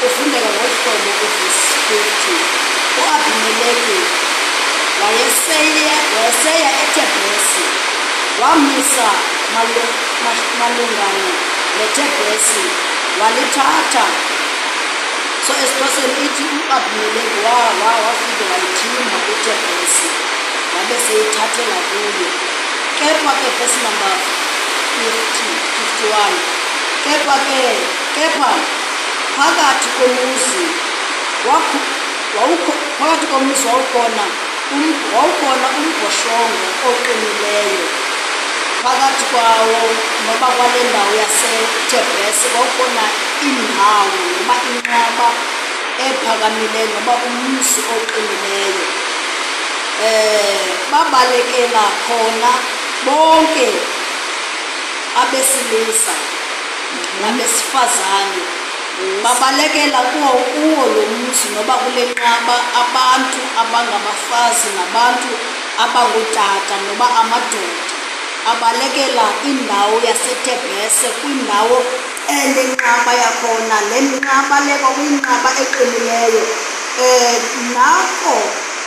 Kufundeka ngolu hlobo kuvesi 50, U-Abimeleki wayeseya eTebhresi, wamisa malungana neTebhresi, walithatha. So esiXhoseni ithi u-Abimeleki wafike wayithimba iTebhresi, wabe seyithathela kuyo. Kepha ke vesi number 50, 51, kepha ke. Kepha phakathi komuzi wakho wawukho phakathi komuzi wawukhona um, wawukhona umbhoshongo oqinileyo phakathi kwawo noba kwale ndawo yasetebhese wawukhona indawo noba inqaba ephakamileyo noba umzi oqinileyo um babalekela khona bonke abesilisa nabesifazane babalekela kuwo kuwo lo muzi noba kulenqaba abantu abangabafazi nabantu abangotata noba amadoda abalekela indawo yaseTebese kwindawo enenqaba yakhona le nqaba le kwakuyinqaba eqinileyo um nako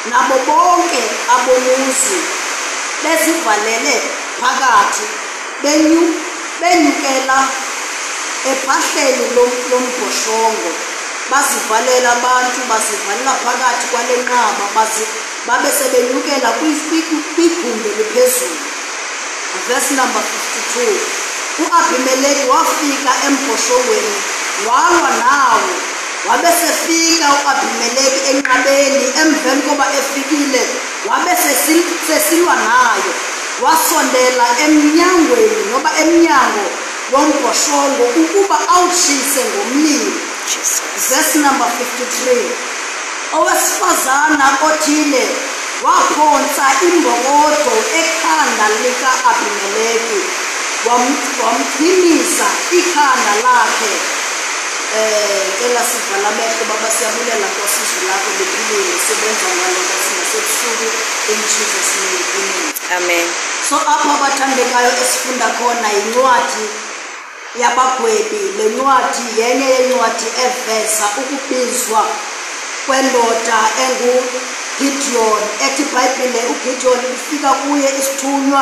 nabo bonke abomuzi bezivalele phakathi Benyu, benyukela ephahleni lom, lombhoshongo, bazivalela abantu, bazivalela phakathi kwale nqaba, bazi, babe sebenyukela kwi- kwi- kwi- kwigumbi eliphezulu. Verse number 52. U-Abimeleki wafika embhoshongweni walwa nawo. Wabe sefika u-Abimeleki enqabeni emveni koba efikile Wabe sesi- sesilwa nayo, wasondela emnyangweni noma emnyango wombhoshongo ukuba awushise ngomlilo. Jesus. Verse number 53. Owesifazana othile waphonsa imbokodo ekhanda lika Abimeleki wam- wamqinisa ikhanda lakhe Eh cela sivala amehlo baba siyabulela Nkosi izwi lakho liphilile sebenza ngalo Nkosi nasebusuku in Jesus name amen. Amen. So apha abathandekayo esifunda khona yincwadi yabagwebi le ncwadi yenye yencwadi eveza ukubizwa kwendoda enguGideon ethi iBhayibhile uGideon ufika kuye isithunywa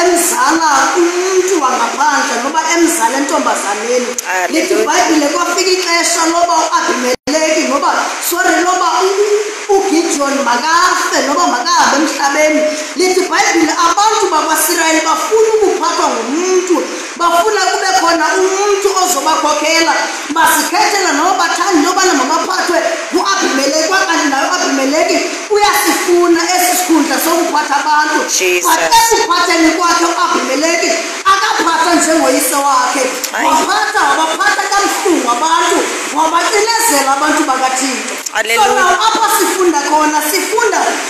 emzala umntu wangaphandle noba emzala entombazaneni lithi ibhayibhile kwafika ixesha loba uabimeleki noba sorry loba ugideon makafe noba makahambe emhlabeni lithi ibhayibhile abantu bakwasirayeli bafuna ukuphathwa ngumntu Bafuna kube khona umuntu ozobakhokhela bazikhethela noma bathanda yobana mabaphathwe ngu-abimeleki kwakanti naye u-abimeleki uyasifuna esi sikhundla sokuphatha abantu but ekuphatheni kwakhe u-abimeleki akaphatha njengoyise wakhe waphatha wabaphatha kabuhlungu abantu wabacinezela abantu bakathixo so naw apha sifunda khona sifunda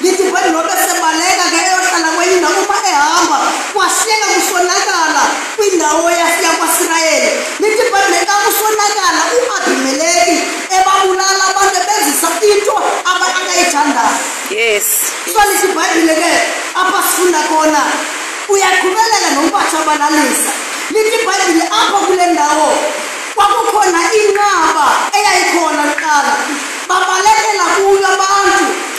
Ngithi vele nobe sebaleka ke eyohlala kwenye indawo uma ehamba kwashiyeka kusonakala kwindawo yafika kwaSirayeli. Ngithi vele neka kusonakala uAbimeleki ebabulala abantu ebenzisa into aba akayithandayo. Yes. So lithi iBhayibhile ke apha sifunda khona uyaqhubeleka nompatha abalalisa. Lithi iBhayibhile apha kule ndawo kwakukhona inqaba eyayikhona kuqala babalekela kuyo abantu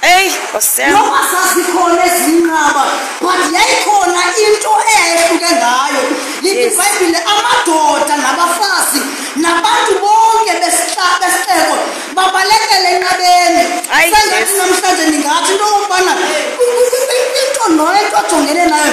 Ey, osem. Noma sazikhona ezinqaba, but yayikhona into eyayehluke ngayo. Lithi iBhayibhile amadoda nabafazi nabantu bonke besihlaba besixeko babalekele enqabeni. Sengathi namhlanje ningathi into yokubana into noyo into ajongene nayo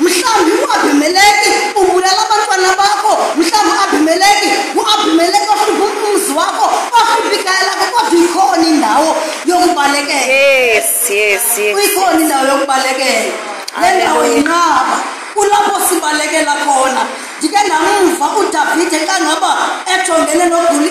Mhlawumbi uAbimeleki ubulala abantwana bakho, mhlawumbi uAbimeleki nguAbimeleki ohlupha umzi wakho, ohlupha ikhaya lakho, kodwa ikhona indawo yokubalekela. Yes, yes, yes. Ikhona indawo yokubalekela. Le ndawo yinqaba. Kulapho sibalekela khona. Ndike ndamva uDavide xa ngaba ejongene noguli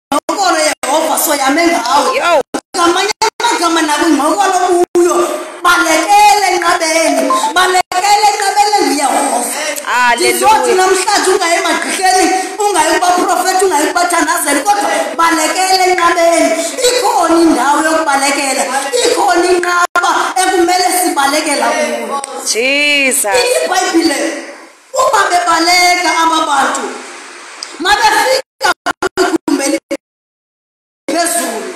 ingqokolo yehova soyame ngawe ngamanye amagama nakwingqokolo kuyo balekele enqabeni balekele enqabeni enguyehova ndizothi namhlanje ungayi emagqihleni ungayi kubaprofethi ungayi kubathandazeli kodwa balekele enqabeni ikhona indawo yokubalekela ikhona inqaba ekumele sibalekela kuyo jesus ibhayibhile Uma bebaleka ababantu mabefika kugumeli phezulu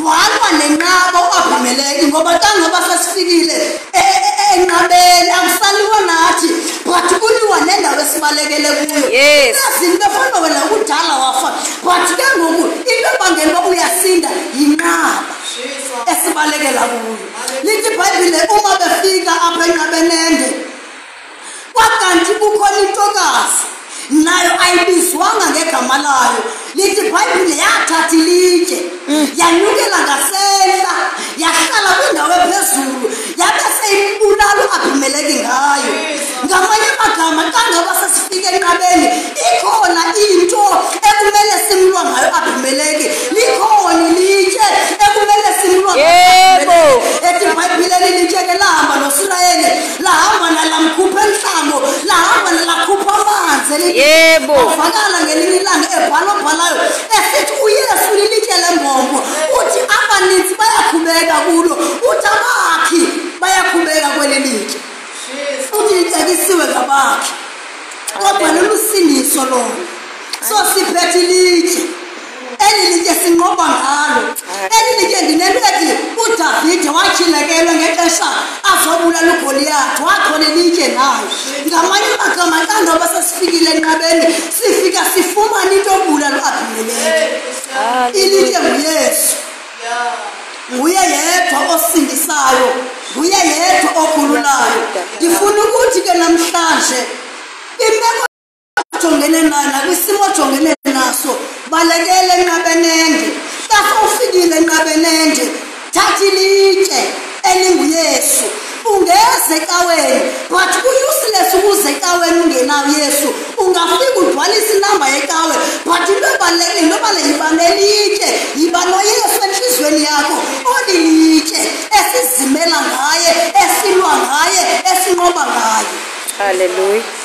walwa nenqaba uAbimeleki ngoba tangoba sesifikile e, e, e, enqabeni akusaliwa nathi but kuliwa nendawo esibalekele kuyo yes izinto efana wena kudala wafa but ke ngoku into ebangela uba uyasinda yinqaba esibalekela kuyo lithi ibhayibhile uma befika apha enqabenende Kwakanti kukhona intokazi nayo ayibizwanga ngegama layo lithi ibhayibhile yathatha ilitshe mm. yanyukela ngasehla yahlala kwindawo ephezulu yabe seyibulala u-abimeleki ngayo ngamanye amagama xa ngaba sesifike enqabeni ikhona into ekumele simlwa ngayo u-abimeleki likhona ilitshe ekumele simlwa ngayo ethi ibhayibhile lilitsheke lihamba nosirayeli lahamba nalamkhupha enhlango lahamba nalakhupha amanzi yebo uvakala ngelinye ilanga ebhala obhalayo esithi uyesu lilitye lembongo uthi abaninzi bayakhubeka kulo uthi abakhi bayakhubeka kweli litye uthi litekisiwe ngabakhi kodwa lolusindiso lona so siphethe ilitye Elilitye sinqoba ngalo. Elilitye ndinelweti uDavide watyhilekelwa ngexesha azobulala uGoliyathi wakhona elitye nayo. Ngamanye amagama xa ndoba sesifikile enqabeni sifika sifumana into obulala uAbimeleki. Ilitye nguYesu. Nguye yedwa osindisayo, nguye yedwa okhululayo. Ndifuna ukuthi ke namhlanje imeko ojongene nayo nakwisimo ojongene naso balekele enqabenende base ufikile enqabenende thatha ilitshe elinguyesu ungeze ekaweni but ku-useless ukuze ekaweni ungenawo yesu ungafika udwalise inamba yekawe but into ebalulekile into bale yiba nelitshe yiba noyesu enhliziyweni yakho olilitshe esizimela ngaye esilwa ngaye esinqoba ngaye halleluya